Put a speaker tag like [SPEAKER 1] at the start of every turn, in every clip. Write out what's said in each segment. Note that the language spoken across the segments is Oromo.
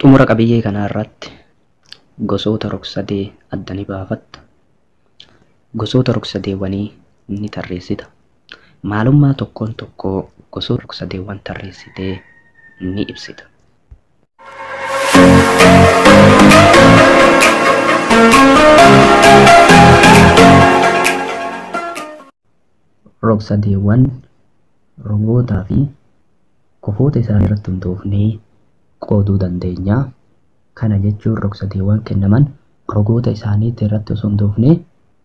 [SPEAKER 1] Xumura qabiyyee kanaa irratti gosoota rogsadee adda ni baafatta. Gosoota rogsadeewwanii ni tarreessita. Maalummaa tokkoon tokkoo gosoota rogsadeewwan tarreessitee ni ibsita. Rogsadeewwan rogootaa fi kofoota isaanii irratti hundoofnee qooduu dandeenya. Kana jechuun rogsadeewwan kennaman rogoota isaaniitti irratti osoo hundoofnee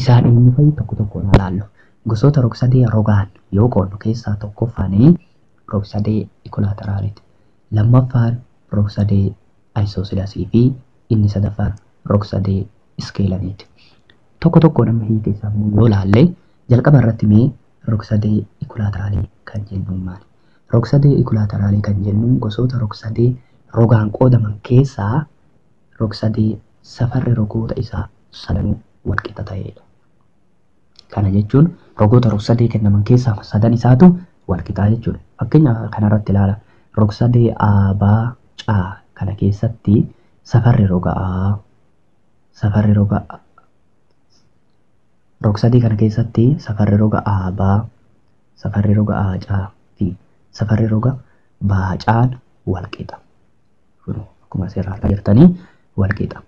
[SPEAKER 1] Isaan eenyu fa'i? Tokko tokkoon haa laallu. Gosoota rogsadee rogaan yoo qoodnu keessaa tokkoffaan rogsadee ikolaateraaliti. Lammaffaan rogsadee ayisoosidasii fi inni sadaffaan rogsadee iskeelaniiti. Tokko tokkoon amma hiika isaa immoo yoo laalle jalqaba irratti mee rogsadee ikolaateraalii kan jennuun maali? Rogsadee ikolaateraalii kan jennuun gosoota rogsadee rogaan qoodaman keessaa rogsadee safarri rogoota isaa sadanuu walqixa ta'eedha. Kana jechuun rogoota rogsadee kennaman keessaa sadan isaatu walqixaa jechuudha. Fakkeenya kanarratti ilaala. Rogsadee A, B, C kana keessatti safarri roga A, safarri roga rogsadee kana keessatti safarri roga A, B, safarri roga A, C fi safarri roga B, C'n walqixa. fudhu akkuma asirraa argaa jirtanii wal qixa.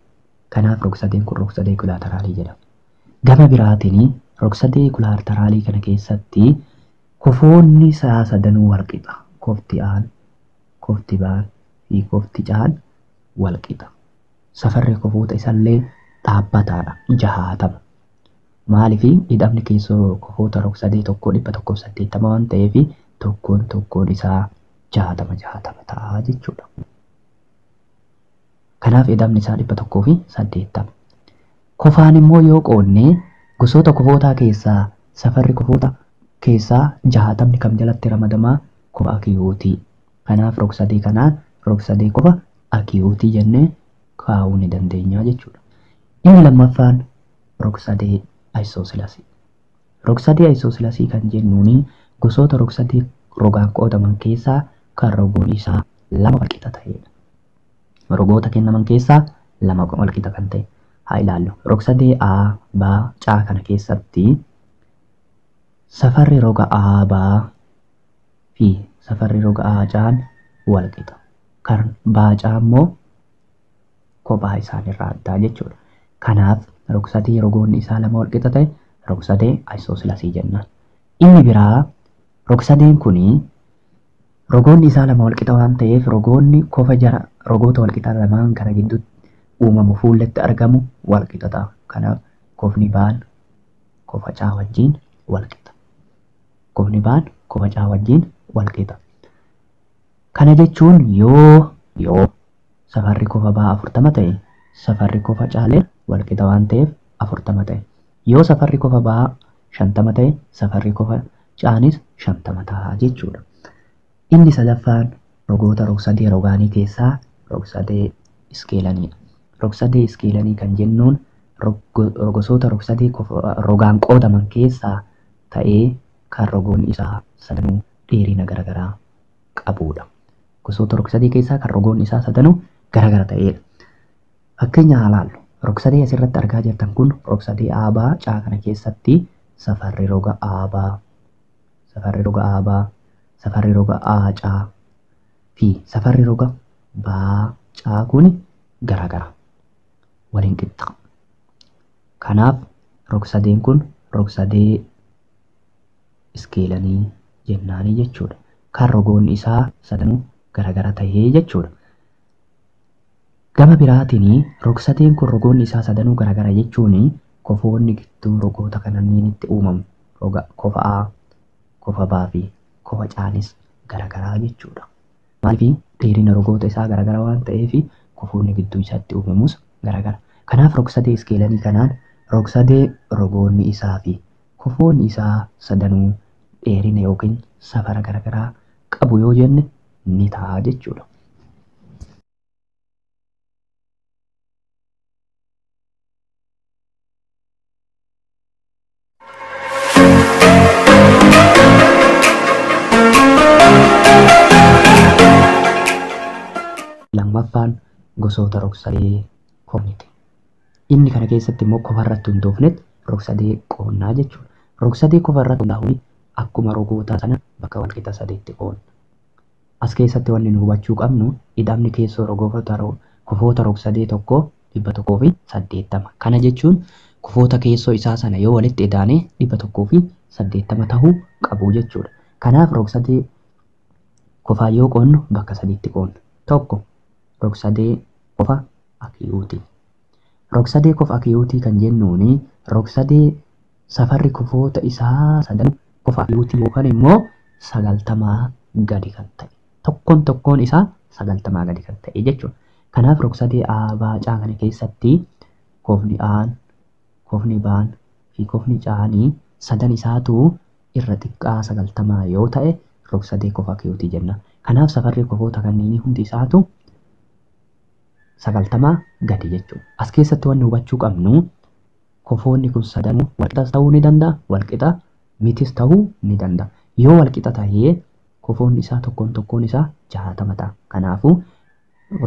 [SPEAKER 1] Kanaaf rogsadeen kun rogsadee kulaataraalii jedhama. Gama biraatiin rogsadee kulaataraalii kana keessatti kofoonni isaa sadanuu wal qixa. Kofti aan, kofti baan fi kofti caan wal qixa. Safarri kofoota isallee dhaabbataadha jahaatama. Maaliif hidhamni keessoo kofoota rogsadee tokkoo dhibba tokkoof saddeettama waan ta'eef tokkoon tokkoon isaa jaatama jaatama ta'a jechuudha. Kanaaf edamni isaa dhibba tokkoo fi saddeettama. Kofaan immoo yoo qoodne gosoota kofootaa keessaa safarri kofoota keessaa jaatamni kam jalatti ramadamaa kofa akiyuutii. Kanaaf rogsadee kanaan rogsadee kofa akiyuutii jennee kaa'uu ni dandeenya jechuudha. Inni lammaffaan rogsadee ayisoosilasii. Rogsadee Aysoosilasii kan jennuun gosoota rogsadee rogaan qoodaman keessaa kan rogoon isaa lama walqixa ta'eedha. Rogoota kennaman keessaa lama walqixa kan ta'e haa ilaallu. Rogsadee A, B, C kana keessatti safarri roga A, B fi safarri roga A, C'n walqixa. Kan B, C immoo kophaa isaanirraa addaa jechuudha. Kanaaf rogsatee yeroo goonni isaa lama walqixa ta'e rogsatee isoslasii jennaan. Inni biraa rogsadeen kun rogoonni isaa lama walqixa waan ta'eef rogoonni kofa jara rogoota walqixa lamaan kana gidduutti uumamu fuulletti argamu walqixa ta'a. Kanaaf kofni baan kofa caa wajjin walqixa. Kofni baan kofa caa wajjin walqixa. Kana jechuun yoo yoo safarri kofa baa 40 ta'e safarri kofa caalee walqixa waan ta'eef 40 ta'e. Yoo safarri kofa baa 50 ta'e safarri kofa caanis 50 ta'a jechuudha. Inni sadaffaan rogoota rogsadee rogaanii keessaa rogsadee iskeelaniidha. Rogsadee iskeelanii kan jennuun rogosoota rogsadee rogaan qoodaman keessaa ta'ee kan rogoonni isaa sadanuu dheerina garagaraa qabuudha. Gosoota rogsadee keessaa kan rogoonni isaa sadanuu garagara ta'eedha. Fakkeenya haa laallu. Rogsadee asirratti argaa jirtan kun rogsadee aabaa caa kana keessatti safarri roga aabaa, safarri roga aabaa, safarri roga aacaa fi safarri roga baacaa kun garagara. Waliin qixxa. Kanaaf rogsadeen kun rogsadee iskeelanii jennaanii jechuudha. Kan rogoonni isaa sadanuu garagara tahee jechuudha. Gama biraatiin rogsateen kun rogoonni isaa sadanuu garagara jechuun kofoonni gidduu rogoota kananniinitti uumamu roga kofa A, kofa B fi kofa Caanis garagaraa jechuudha. Maaliif dheerina rogoota isaa garagara waan ta'eef kofoonni gidduu isaatti uumamus garagara. Kanaaf rogsadee iskeelanii kanaan rogsadee rogoonni isaa fi Kofoon isaa sadanuu dheerina yookiin safara garagaraa qabu yoo jenne ni ta'a jechuudha. Lammaffaan gosoota rogsalee komiiti. Inni kana keessatti immoo kofa irratti hundoofnetti rogsadee qoonnaa jechuudha. Rogsadee kofa irratti hundaa'uun akkuma rogoota sana bakka walqixa sadiitti qoonna. As keessatti wanni nu hubachuu qabnu ida'amni keessoo rogoota kofoota rogsadee tokkoo 180. Kana jechuun kofoota keessoo isaa sana yoo walitti idaane 180 tahuu qabu jechuudha. Kanaaf rogsadee kofaan yoo qoonnu bakka sadiitti qoonna. Tokko rogsadee kofa Akiyuutii. Rogsadee kofa akiyuutii kan jennuun rogsadee safarri kofoota isaa sadanuu kofa akiyuutii yookaan immoo sagaltamaa gadi kan ta'e tokkoon tokkoon isaa sagaltamaa gadi kan ta'e jechuudha. Kanaaf rogsadee A, B, C kana keessatti kofni A'n, kofni B'n fi kofni C'aan sadan isaatu irra xiqqaa sagaltamaa yoo ta'e rogsadee kofa akiyuutii jenna. Kanaaf safarri kofoota kanneenii hundi isaatu 90 gadi jechuudha. As keessatti wanni hubachuu qabnu kofoonni kun sadanuu walqixas ta'uu ni danda'a, walqixa mitis ta'uu ni danda'a. Yoo walqixa ta'ee kofoonni isaa tokkoon tokkoon isaa 60 ta'a. Kanaafuu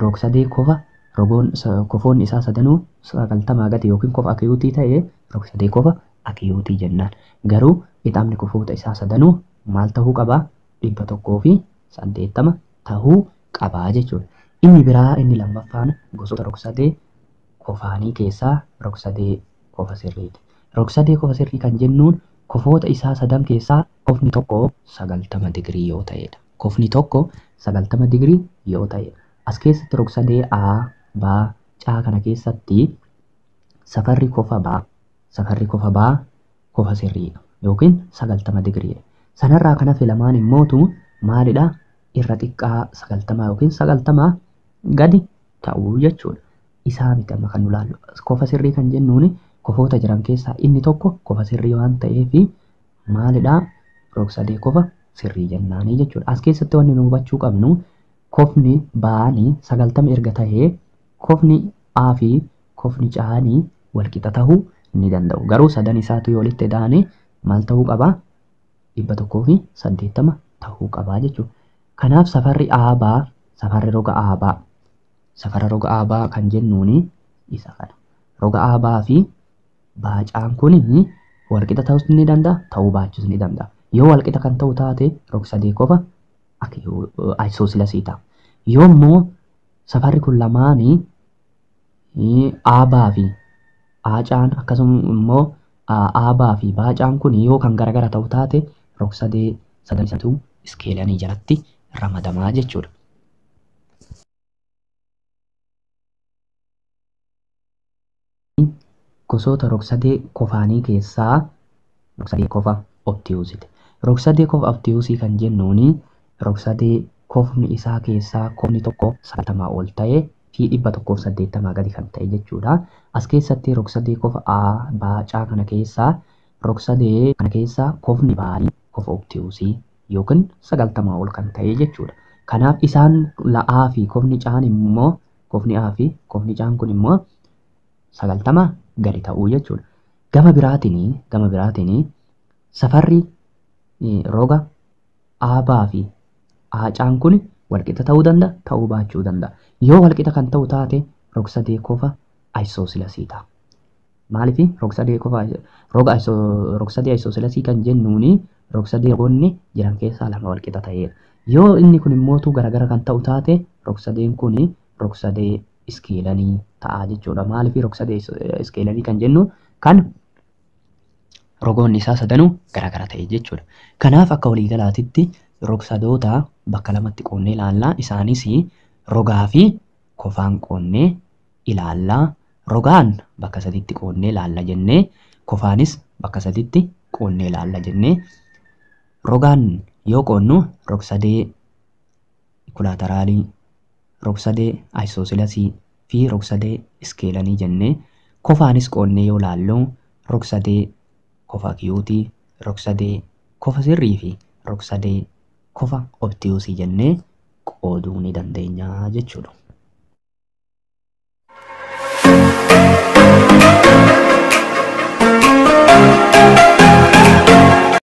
[SPEAKER 1] rogsadee kofa rogoon kofoonni isaa sadanuu 90 gadi yookiin kofa akiyuutii ta'e rogsadee kofa akiyuutii jennaan. Garuu ixaamni kofoota isaa sadanuu maal ta'uu qaba? 180 ta'uu qaba jechuudha. Inni biraa inni lammaffaan gosoota rogsadee kofaanii keessaa rogsadee kofa sirriiti. Rogsadee kofa sirrii kan jennuun kofoota isaa sadan keessaa kofni tokko 90 digirii yoo ta'eedha. Kofni tokko 90 digirii yoo ta'e. As keessatti rogsadee A, B, C kana keessatti safarri kofa B, safarri kofa B kofa sirriidha yookiin 90 digiriidha. Sanarraa kan hafe lamaan immootu maalidha? irra xiqqaa sagaltamaa yookiin sagaltamaa gadi ta'uu jechuudha. Isaa miti amma kan nu laallu. Kofa sirrii kan jennuun kofoota jiran keessaa inni tokko kofa sirrii waan ta'eef maalidhaa rogsadee kofa sirrii jennaanii jechuudha. As keessatti wanni nu hubachuu qabnu kofni baanii sagaltama erga ta'ee kofni A fi kofni caanii walqixa ta'uu ni danda'u. Garuu sadan isaatu yoo walitti ida'anii maal ta'uu qabaa? 180 tahuu qabaa jechuudha. Kanaaf safarri aabaa safarri roga aabaa safara roga aabaa kan jennuuni isa kana. Roga aabaa fi baacaan kun walqixa ta'us ni danda'a ta'uu baachuus ni danda'a. Yoo walqixa kan ta'u taate rog sadee qofa isoosilasiidha. Yoo immoo safarri kun lamaanii Aabaa fi aacaan akkasuma immoo aabaa fi baacaan kun yoo kan garagara ta'u taate rogsadee sadan isatu iskeelanii jalatti ramadamaa jechuudha. Gosoota rogsadee kofaanii keessaa Rogsadee kofa obtiyuusiti. Rogsadee kofa obtiyuusii kan jennuuni rogsadee kofni isaa keessaa kofni tokko 90 ol ta'e fi 180 gadi kan ta'e jechuu dha. As keessatti rogsadee kofa A, B, C kana keessaa rogsadee kana keessaa kofni baari kofa obtiyuusii yookiin 90 ol kan ta'e jechuu dha. Kanaaf isaan A fi kofni C'n immoo kofni A fi kofni C'n kun immoo 90 gadi ta'uu jechuudha. Gama biraatiin gama biraatiin safarri roga aabaa fi aacaan kun walqixa ta'uu danda'a ta'uu baachuu danda'a. Yoo walqixa kan ta'u taate rogsadee kofa ayisoosilasii ta'a. Maaliif rogsadee kofa roga rogsadee ayisoosilasii kan jennuuni rogsadee rogoonni jiran keessaa lama walqixa ta'eera. Yoo inni kun immoo garagara kan ta'u taate rogsadeen kun rogsadee iskeelalii ta'a jechuudha. Maaliif rogsadee iskeelalii kan jennu kan rogoonni isaa sadanuu garaagara ta'e jechuudha. Kanaaf akka waliigalaatitti rogsadoota bakka lamatti qoonnee ilaallaa isaanis rogaa fi kofaan qoonnee ilaallaa. Rogaan bakka sadiitti qoonnee ilaalla jennee kofaanis bakka sadiitti qoonnee ilaalla jennee rogaan yoo qoonnu rogsadee kulaataraalii, rogsadee ayisoosilasii fi rogsadee iskeelanii jennee kofaanis qoodnee yoo laallu rogsadee kofa akiyuutii, rogsadee kofa sirrii fi rogsadee kofa obtiyuusii jennee qooduu ni dandeenya jechuudha.